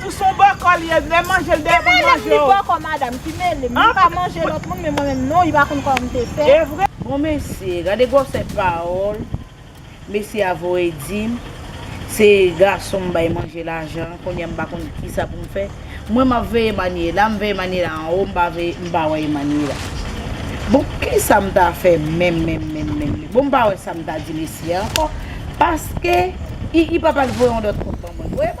Ou son bòkò li ye lè manjel deyò poul manje w. Li pa menm li bòkò madam ki melem li pa manje lòt moun men mwen menm non li pa konn kòm te fè. Bon mesye gade gwòsè pawòl mesye a voye dim se gason m bay manje lajan an kounya m pa konn kisa pou m fè mwen m ap veye Manuela m veye Manuela anwo m pa veye m pa wè Emanuela bon kisa m ta fè menm menm menm menm bon m pa wè sa m ta di mesye a ankò paske i pap al voye yon lòt kont ban mwen.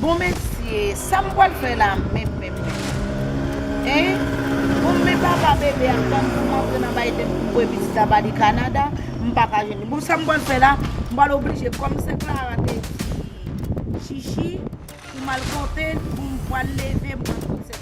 Bon mesye sam pwal fè la menm menm menm hein bon men papa bebe a tann poum antre nan maytem poum voye pitit la bali Canada m paka jwenn li bon sam pwal fè la m pwal oblije kòm sè Clara te di chichi poum al konte poum pwal leve m pwal konte sè.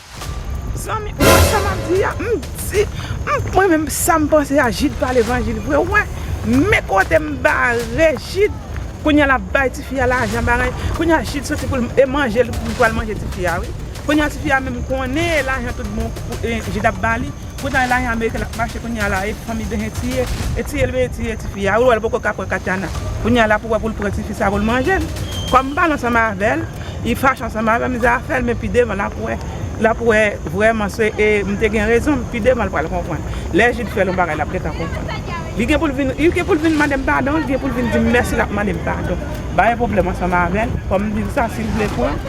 Zanmi ou wè sa map di a m di mwen menm sam panse a Jid pa levanjil vre ou wè men kote m bare Jid kounya lap bay tifi a lajan bagay kounya Jid soti poul manje li pral manje tifi a wi kounya tifi a menm konnen lajan tout bon Jid ap bali. Kounal la yon ameriken lap mache kounya la e fanmi behen tiye e tiyel beye tiye tifi ya ou wèl poko ka pran Katiana kounya la pou wè poul pran tifi sa poul manjel kòm pale ansanm avèl li fache ansanm avèm zafèl men pi devan lap wè lap wè vrèman se e mte gen rezon pi devan pral konprann lè Jude fèl yon bagay lap gentan konprann li gen poul vin li gen poul vin mandem padon li gen poul vin dim mèsi lap mandem padon bare pwoblèm ansanm avèl kòm dil sa sil vle pran.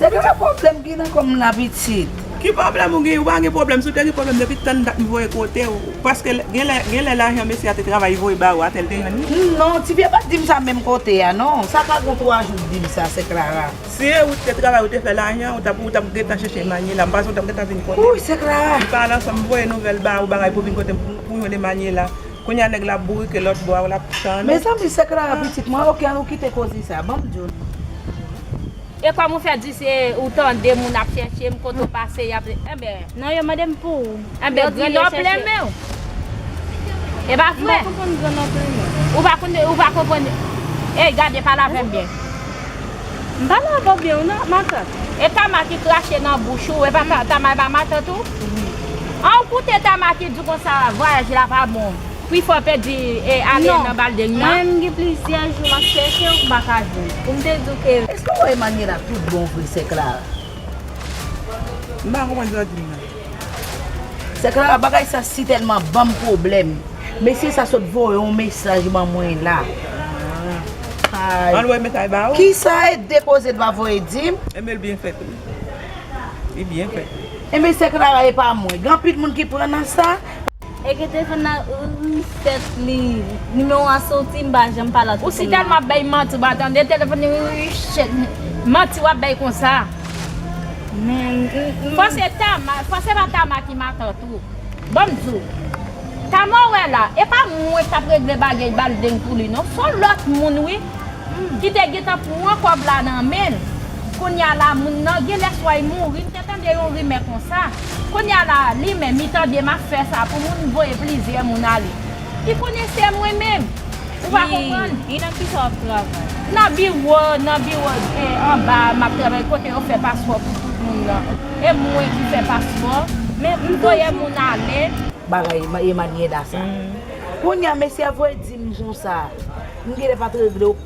Se de la pwoblem ki nan kòm la pitit. Ki pwoblèm ou gen, ou pa gen pwoblèm, si w te gen pwoblèm depi tann dat m voye kote w, paske gen lè lajan mesye a te travay li voye ba ou a te l te jwenn li. Non, ti pye pat di m sa menm kote a non, sa ka gon 3 jou l di m sa, sè Klara. Si e ou t te travay ou te fè lajan, ou tap ou tap gentan chèche Manyela, m panse ou tap gentan vin kote m. Wouy sè Klara! M pa al ansanm m voye nouvèl ba ou bagay pou w vin kote m pou w jwenn Emanyela. Kounya nèg la bourike lòt bò a ou lap tann ou. Mezanmi se Clara pitit mwen ok an ou kite koze sa banm diw non. E kòm ou fè di se ou tande moun ap chèche m kote ou pase yap enben. Non yo mande m pou ou. Enben grandon plenmen w. E pa vre? M pa konprann grandon plenmen w. Ou pa konprann ey gade pale avèm byen. M pa nan vòb li w nan matant. E tama ki krache nan bouch ou, e pa tama e pa matant ou? Wi. An ou koute tama ki di konsa vwayaj la pa bon, pi fò pèdi e ale nan balding nan? Non, mwen menm gen plizyè jou map chèche w m pa ka jwenn l, pou m te di w ke. Eske w wè Emmanuella tout bon vre sè Clara? M pa konprann sa w di m nan. Sè Clara bagay sa sitèlman banm pwoblèm Mesye sa sot voye yon mesaj ban mwen la Ann wè mesaj la Kisa et depoze t va voye dim Enben l byen fèt wi Li byen fèt wi Enben sè Clara epa mwen Gen anpil moun ki pran nan sa. Eke telefon nan reset li numero a soti m pa janm pale ak telefon nan. Ou si telman ap bay manti ou pa tande telefon li reset li manti wap bay konsa. Fò se tama fò se pa tama ki matant ou banm diw tama ou wè la epa mwen kap regle bagey baldeng pou li non son lòt moun wi ki te gentan pran kòb la nan menl kounya la moun nan genlè swa li mouri. Mwen tande yon rimè konsa. Kounye a la, li menm, li tande m ap fè sa pou moun, m voye plizyè moun ale. Ki konesè mwen menm? Ou pa konprann? E nan ki sa w ap travay? Nan biwo, nan biwo e anba a m ap travay kote yo fè paspò pou tout moun nan. E mwen ki fè paspò. Men, m voye moun ale. Bagay Emanyeda sa. Kounye a mesye a voye di m konsa. M genlè pa t regle w.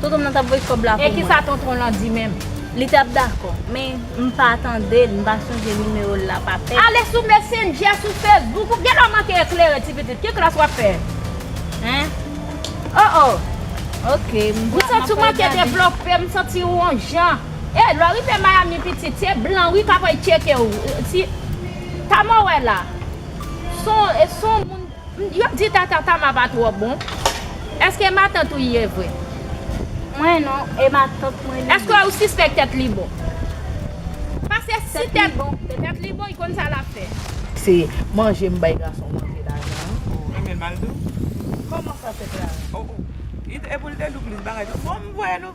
Tonton m nan t ap voye kòb la pou mwen. E kisa tonton w lan di menm? Li t ap dakò, men m pa tande l, m pa sonje nimewo l la pa tèt. Ale sou Messenger, sou Facebook ou gen lè w manke eklere ti pitit. Ki klas w ap fè? Hein? O o! Ok, m ap pral gade. M santi w manke devlope, m santi w on jan. E, lè w rive Miami pitit, se blan wi k ap al tcheke w. Tamou wè la, s on moun. Yo di tata tama pa tro bon. Eske matant ou ye vre. Mwen non e matant mwen li ye. Eske ou sispek tet li bon. Pase si tet li bon li konn sa lap fe. Se manje m bay gason manje lajan an. Ou renmen l mal dou. Koman sa se klara. Oh oh. Epoul te dou plis bagay. Bon m voye nou.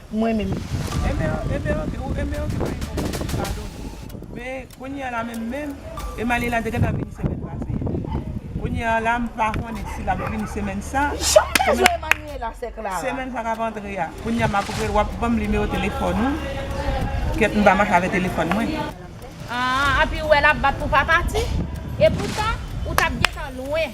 Mwen menm. Amen amen ok ou amen ok pa gen problème mwen padone. Men kounya la menm menm Emalie la te gentan vini semèn pase a kounya la m pa konnen si lap vini semèn sa Janm bezwen Emmanuella sè Clara. Semèn sa kap antre a kounya map rele wap banm nimewo telefòn ou kèt m pa mache avè telefòn mwen. Aah api ou wè lap bat pou pa pati? Epoutan ou tap gentan lwen.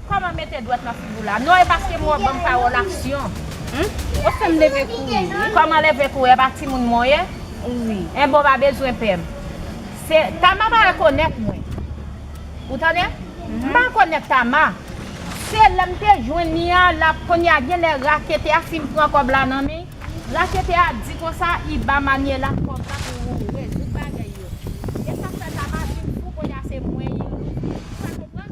Kòman mete dwèt nan figi w la? Non e paske mwen ban m pawòl aksyon. Humm ou fèm leve kouri wi. Kòman leve kouri epa timoun mwen ye? Wi. Enben ou pa bezwen pè m. Se Tama pa rekonèt mwen. Ou tande? M pa rekonèt Tama. Se lè m te jwenn li a la kounye a gen lè raketè a fin pran kòb la nan men. Raketè a di konsa i ba Manuela kòb la pou ou rezoud bagay yo. E sa k fè Tama vin fou kounye a se mwen li louvri. Ou pa konprann?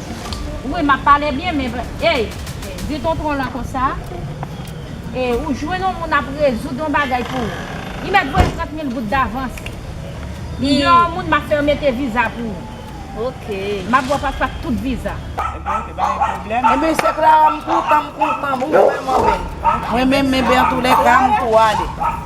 Wi map pale byen men ey di tontron lan konsa e ou jwenn yon moun ap rezoud yon bagay pou ou li mèt voye 30 mil goud davans m gen yon moun map fèw mete viza pou ou map baw pas ak tout viza. Ebyn se Clara m kontan m kontan m vrèman bèl mwen menm men antulèka m tou ale.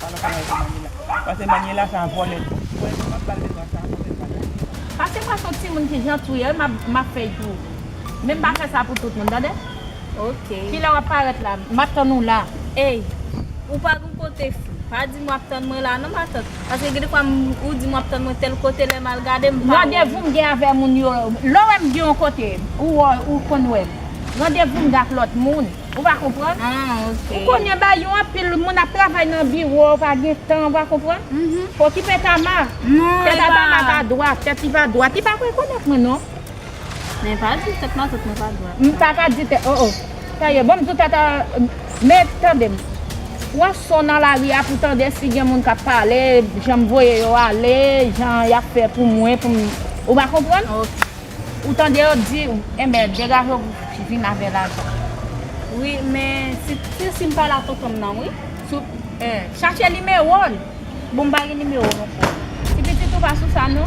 Pa nan kanal pou Manuela. Pase Manuela sa vole. Mwen menm map bal de twa sa mwen menm pa nan li nan. Pase mwen son timoun ki janti ou ye map fè jou ou. Men pa fè sa pou tout moun tande. Ok. Kilè wap parèt la map tann ou la. Ey ou pa gon kote fou. Pa dim wap tann mwen la non matant. Paske gen de fwa ou dim wap tann mwen tel kote lèm al gade m pa wè ou. Randevou m gen avè moun yo. Lè ou wèm gen yon kote ou konn wèm. Randevou m gen ak lòt moun. Ou va konprann? Ou konnen ba yon anpil moun ap travay nan biwo, ou pa gen tan, ou va konprann? Okipe Tama. Tèt a Tama va dwat, tèt li va dwat. Li pa rekonèt mwen non. Men pa di tèt matant mwen pa dwat. M pa ka di tèt, o o. Sa ye, bon m di w tèt a, men tande m. Pran son nan lari a pou tande si gen moun k ap pale, jan m voye yo ale, jan y ap fè pou mwen pou m, ou va konprann? Ou tande yo di ou enben degaje ou vin avè lajan. Wi men si ti sim pa la tontonm nan wi. Chache nimewo l. Bon m pa gen nimewo non frè. Ti pitit ou pa sou sa non.